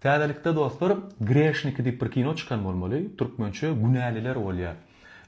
Täzelikde dostlar Greshniki diýip bir kino çykan bolmaly, türkmençe Günäliler bolýar.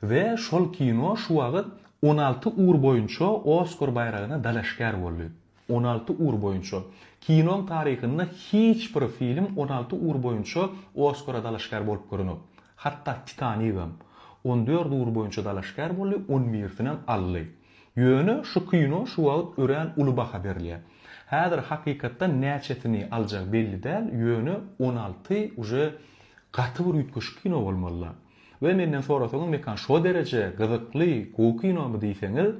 We şol kino şu wagyt on alty ur boýunça Oskar baýragyna dalaşgär boldy. On alty ur boýunça. Kinoň taryhynda hiç bir film on alty ur boýunça Oskara dalaşgär bolup görenok. Hatda Titanigam. On dört ur boýunça dalaşgär boldy, on birisinem aldy. Ýöne şu kino şu wagt örän uly baha berilýär. Häzir hakykatdan näçesini aljag belli däl, ýöne on alty uje gaty bir üýtgeşik kino bolmalyla. We menden sorasaňyz mekan şo dereje gyzykly, gowy kinomy diýseňiz,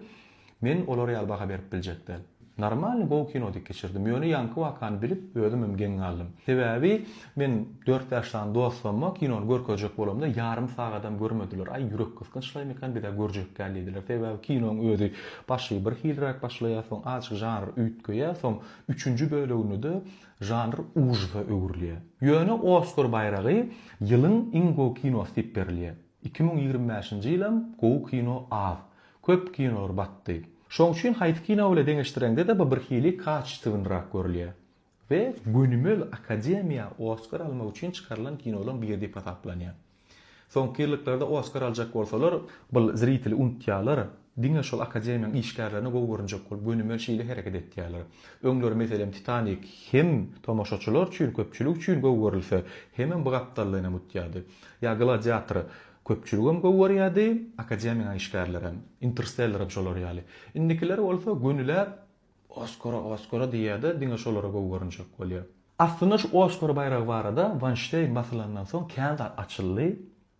men olar ýaly baha berip biljek däl. Normalny gowy kino dek geçirdim. Ýöne ýaňky wakany bilip özümem geň galdym. Sebäbi men dört bäş sany dostumma kinony görkezjek bolamda ýarym sagadam görmediler. Aý ýürek gysgynçlaýmy eken bizä görjek däl diýdiler. Sebäbi kinoň özi başy bir hiliräk başlaýar soň azjyk žanr üýtgeýär soň üçünji bölegindede žanr ujysa öwrülýär. Ýöne Oskar baýragy ýylyň iň gowy kinosy diýip berilýär. Iki müň ýigrimi bäşinji ýylam gowy kino az. Köp kinolar batdy. Şoň üçin haýsy kino bile deňeşdireňde-de bu birhili kaçitywnyrak görülýär. We gönümel akademiýa Oskar almak üçin çykarylan kinolaň biri diýip hasaplanýar. Soňky ýyllyklarda Oskar aljak bolsalar bul zriteli unutýarlar, diňe şol akademiýaň işgärlerine gowy görünjek bolup gönümel şeýle hereket etýärler. Öňler meselem Titanik hem tomaşaçylar üçin köpçülik üçin gowy görülse hemem bu gapdallyny unutýardy. Ýa Gladiator Köpçüligem gowy görýärdi, akademiýanyň işgärlerem, Interstellerem şolar ýaly. Indikiler bolsa gönüläp Oskara, Oskara diýýär-de, diňe şolara gowy görünjek bolýar. Aslynda şu Oskar baýragy barada Wanşteýn basylandan soň kän zat açyldy.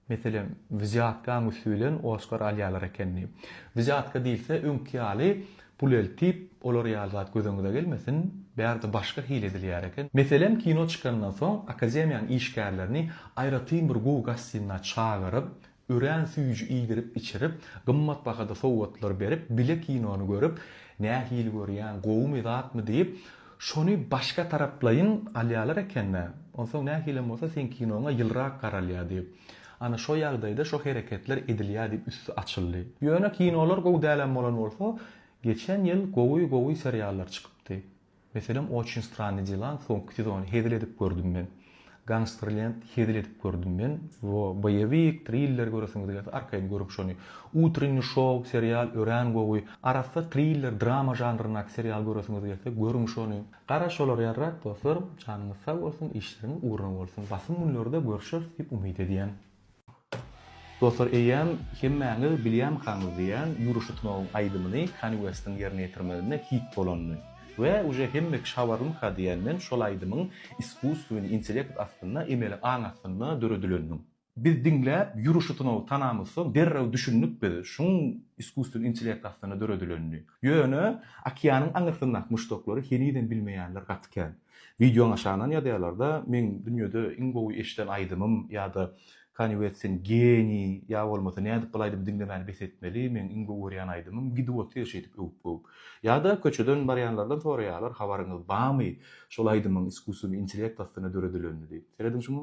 Meselem, wzýatkaň üsti bilen Oskar alýarlar ekeni. Wzýatka diýilse, öňki ýaly Pul eltip, olar ýaly zat gözüňize gelmesin, bärde başga hile edilýär eken. Meselem, kino çykandan soň, akademiýanyň işgärlerini aýratyn bir gowy gostinna çagyryp, örän süýji iýdirip-içirip, gymmat bahada sowgatlar berip, bile kinony görüp, Nähili görýäň, gowumy zatmy diýip, Şony başga taraplaýyn alýarlar eken-dä. Onsoň nähilem bolsa seň kinoňa ýylyrak garalýar diýip. Ana şo ýagdaýda şo hereketler edilýär diýip üsti açyldy. Ýöne kinolar gowy dälem bolan bolsa, geçen ýyl gowy-gowy seriallar çykypdy. Meselem Oçin stranny delaň soňky sezony hezil edip gördüm men. Gangsterlend hezil edip gördüm men wo boýewik triller göresiňiz gelse arkaýyn görüň şony Utrennyi şow serial örän gowy arassa triller drama žanryndaky serial göresiňiz gelse görüň şony. Gara şolar ýarrak dostlar janyňyz sag bolsun işleriňiz ugruna bolsun basym günlerde görüşeris diýip umyt edýän. Dostlar eýýäm hemmäňiz bilýänkaňyz diýýän Ýuriş Şutunowyň aýdymyny Kanye Westiň ýerine ýetirmeginde hit bolandy we uje hemme kişi habarlymyka diýýän men şol aýdymyň iskusstweniý intellekt astynda emeli aň astynda döredileniniň. Biz diňläp Ýuriş Şutunowy tanamyzsoň derrew düşündik biz şuň iskusstweniý intellekt astynda döredilenini. Ýöne okeanyň aňyrsyndaky muşdaklary henizem bilmeýänler gaty kän. Wideoň aşagyndan ýazýalarda meň dünýede iň gowy eşiden aýdymym ýada Kanye West sen geniý ýa bolmasa nädip bul aýdymy diňlemäni bes etmeli meň iň gowy görýän aýdymym gidip otyr şeýdip öwüp göwüp ýada köçeden barýanlardan soraýalar habaryňyz bamy şol aýdymyň iskuswnyý intelekt astyna döredilenini diýip serediň şuňa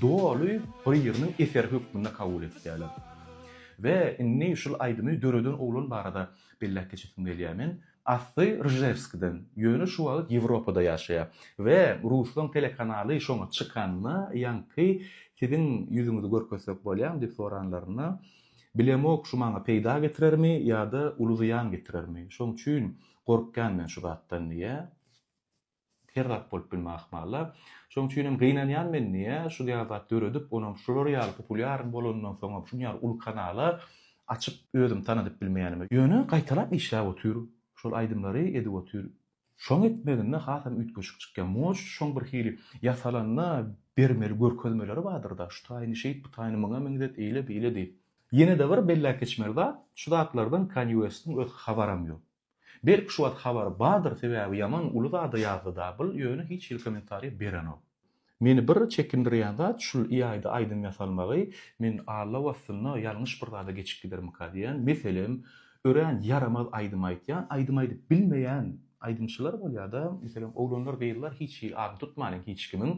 doly birini eser hökmünde kabul etýärler. We indi şul aýdymy döreden oglan barada belläp geçesim gelýär men. Asly Rjewskiden, ýöne şu wagt Ýewropada ýaşaýar. We ruslaň telekanaly şoňa çykanda ýaňky siziň ýüzüňizi görkezsek bolýarmy diýip soranlarynda, bilemok şu maňa peýda getirermi ýa-da uly zyýan getirermi, şoň üçin gorkýan men şu zatdan diýýär. Sergap bolup bilme ahmalla. Şoň üçinem gynanýan men niýe şul ýaly zat döredip, onam şular ýaly populýaryn bolanyndan soňam şuň ýaly uly kanala açyp özüm tanadyp bilmeýänime. Ýöne gaýtalap işläp otyr, şol aýdymlary edip otyr. Şoň etmeginde hasam üýtgeşik çykýar. Moş şoň bir hili ýasalanda bermeli görkezmeleri bardyrda, şu taýyny şeýt, bu taýyny muňa meňzet, eýle, beýle diýip. Ýene-de bir belläp geçmeli zat, şu zatlardan Kanye Westiň öz habaram ýok. Belki şuwagt habary bardyr sebäbi ýaman uly zada ýazdy Dabyl ýöne hiç hili kommentariýa berenok. Meni bir çekindirýän zat şul iaýda aýdym ýasalmagy men Alla wastynda ýalňyş bir zada geçip gidermika diýýän meselem örän ýaramaz aýdym aýtýan aýdym aýdyp bilmeýän aýdymçylar bolýada meselem oglanlar gyzlar hiç hili adyny tutmaýyn hiç kimiň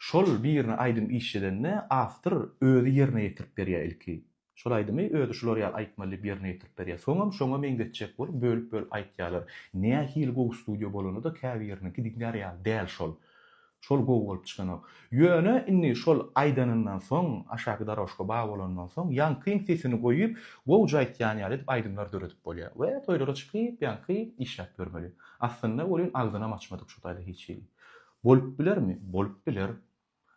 şol birine aýdym işledende awtor özi ýerine ýetirip berýä ilki Şol aýdymy özi şular ýaly aýtmaly diýip ýerine ýetirip berýär. Soňam şoňa meňzetjek bolup bölüp-bölüp aýtýarlar. Nähili gowy studio bolanda-da käbiriniňki diňlär ýaly däl şol. Şol gowy bolup çykanok. Ýöne indi şol aýdanyndan soň, aşaky darožka bar bolandan soň ýaňkyň sesini goýup, gowja aýtýan ýaly edip aýdymlar döredip bolýar. We toýlara çykyp, ýaňky işläp ýörmeli. Aslynda welin agzynam açmadyk şu taýda hiç hili. Bolup bilermi? Bolup biler.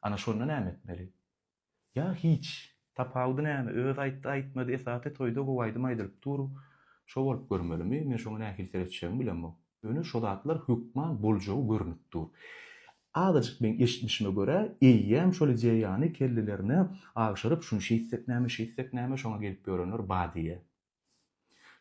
Ana şonda näme etmeli? Ýa hiç. Tapawudy näme? Öz aýtdy, aýtmady, esasy toýda gowy aýdym aýdylyp dur. Şo bolup görmelimi? Men şoňa nähili seretjegimi bilemok. Ýöne şo zatlar hökman boljagy görnüp dur. Azajyk meň eşitmişime görä, eýýäm şol ideýany kellelerine agşyryp, şuny şeýtsek näme, şeýtsek näme, şoňa gelip ýörenler ba diýýä.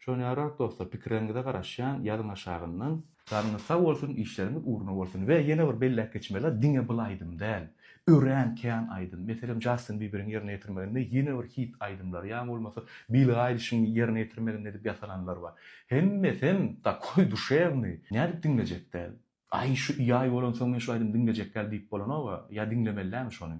Şony ýarak dostlar pikirleriňize garaşýan ýazyň aşagyndan. Janyňyz sag bolsun işleriňiz ugruna bolsun we ýene bir belläp geçmeli zat diňe bul aýdym däl örän kän aýdym meselem Jastin Biberiň ýerine ýetirmeginde ýene bir hit aýdymlar ýa bolmasa Billi Aýlişiň ýerine ýetirmeginde edip ýasalanlar bar hemmesem takoý duşewnyý nädip diňlejek däl aý şu ýaý bolansoň men şu aýdymy diňlejek däl diýip bolanoga ýa diňlemeli dämi şony.